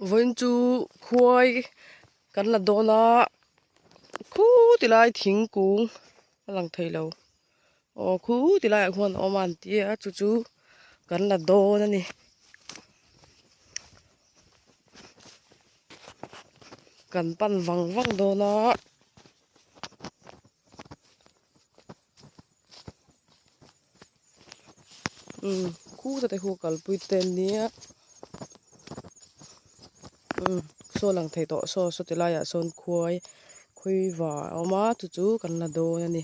Vawiin chu khuai kan la dawn a khuti lai thingkung a lang thei lo aw khuti laiah khuan a awm a an ti a chu chu kan la dawn a ni kan pan vang vang dawn a. umm khu ta te khu a kalpui te a nia umm saw lang thei tawh saw saw ti laiah sawn khuai khawi va a awm a chu chu kan la dawn a ni.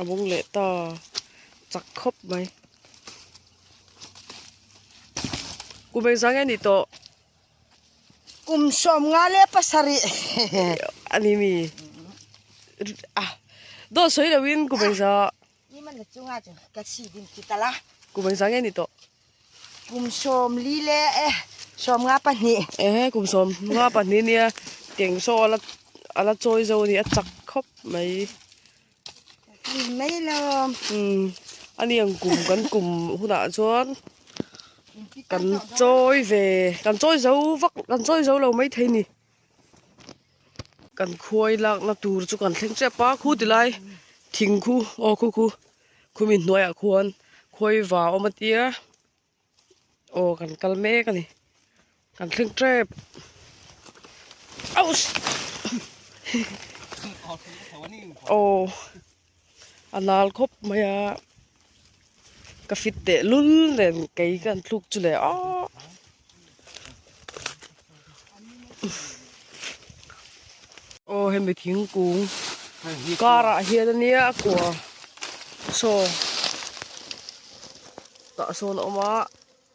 a bung leh ta chak khawp mai kum engzah nge ni tawh kum sawm nga leh pasarih a ni mi a daw sawi lo in kum engzah kum engzah nge ni tawh. Kum sawm li le e sawm nga pahnih. Ehe kum sawm nga pahnih nia keng saw ala ala chawi zo a ni a chak khawp mai hei mai lo umm ani ang kum kan kum hunah chuan kan chawi ve kan chawi zo vak kan chawi zo lo mai thei a ni. Kan khuaii lakna tur chu kan thleng tep a khu ti lai thing khu aw khu khu khumi hnuaiah khuan khuaii va a awm atia aw kan kal mek a ni kan thleng tep auhh aw. A lal khawp mai a ka fit teh lul nen kei ka han thluk chu leh aw aw hemi thingkung karah hian ania a kua saw tah sawn a awm a.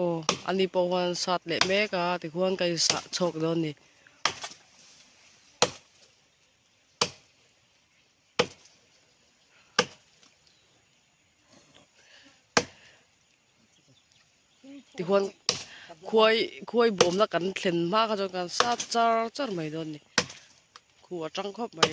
Aw, ani pawh huan sat leh mek a, tichuan ka insah chhawk dawn ni. Tichuan khuai, khuai bawmna kan thlen hma kha chuan kan sat char char mai dawn ni. Khu a chang khawp mai.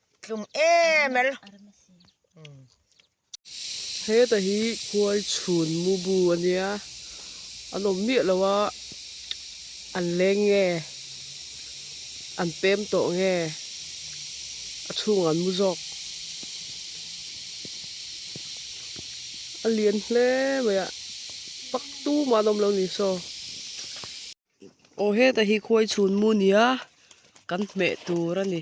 Tlum em el. Heta hi khuai chhun mubu a nia an awm miah lo a an leng nge an pem tawh nge a chhungah an mu zawk a lian hle mai a paktu mah an awm lo ni saw. Aw heta hi khuai chhun mu nia kan hmeh tur a ni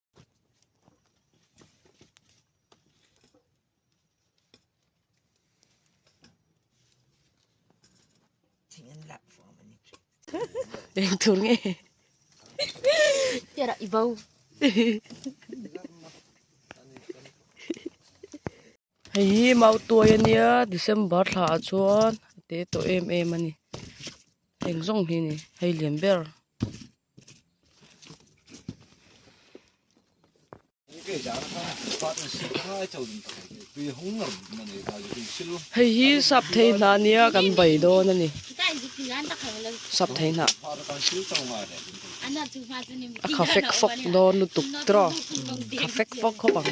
Eng tur nge. Tera i bo. Hei hi mau tuai a nia December thla ah chuan a te tawh em em a ni eng zawng hi ni hei liam ber. Hei hi sap thei hna nia kan bei dawn a ni sap thei hna a kha fek fawk dawn lutuk tiraw kha fek fawk khawp ang.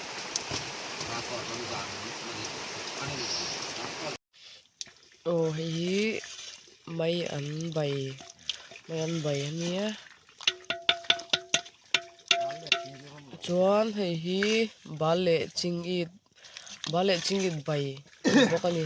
aw hei hi mai an bai mai an bai a nia tichuan hei hi bal leh ching it bal leh ching it bai a ni bawk a ni.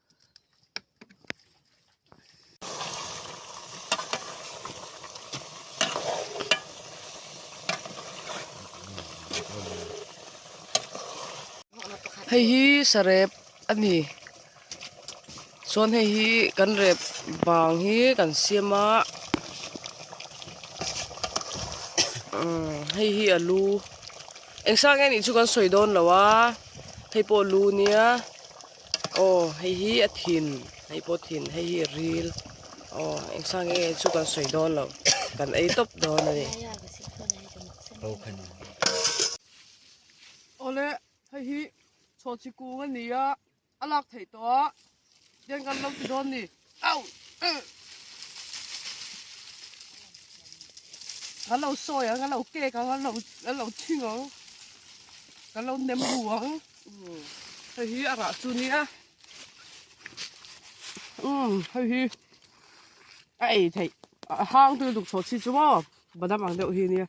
Hei hi sarep a ni chuan hei hi kan rep vang hi kan siam a umm hei hi a lu eng sang nge nih chu kan sawi dawn lo a hei pawh lu nia. aw hei hi a thin hei pawh thin hei hi a ril aw engchang nge chu kan sawi dawn lo kan ei tawp dawn a ni ho khan ole hei hi chhawhchi kung a ni a a lak theih tawh a then kan lo ti dawn ni. Kan lo sawi ang, kan lo kek ang, kan lo kan lo thing ang, kan lo nem bu ang. Hei hi a rah chu nia. Um, hei hi a ei theih, a hang tu duk chho chi chu maw? Badam ang deuh hi nia.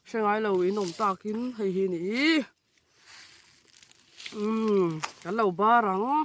Hrengai lo in awm takin hei hi ni i. Um, kan lo bar ang.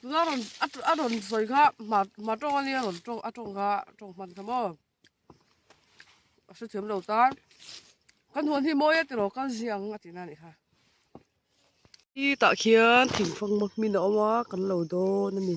Tuna rawn a rawn sawi kha hma hma tawng a nia rawn tawng a tawng kha tawng hman kha maw a hre thiam lo ta kan huan hi mawi a ti lo kal zia ang a tina ni kha i tah khian thing fang ma hmin a awm a kan lo dawn a ni.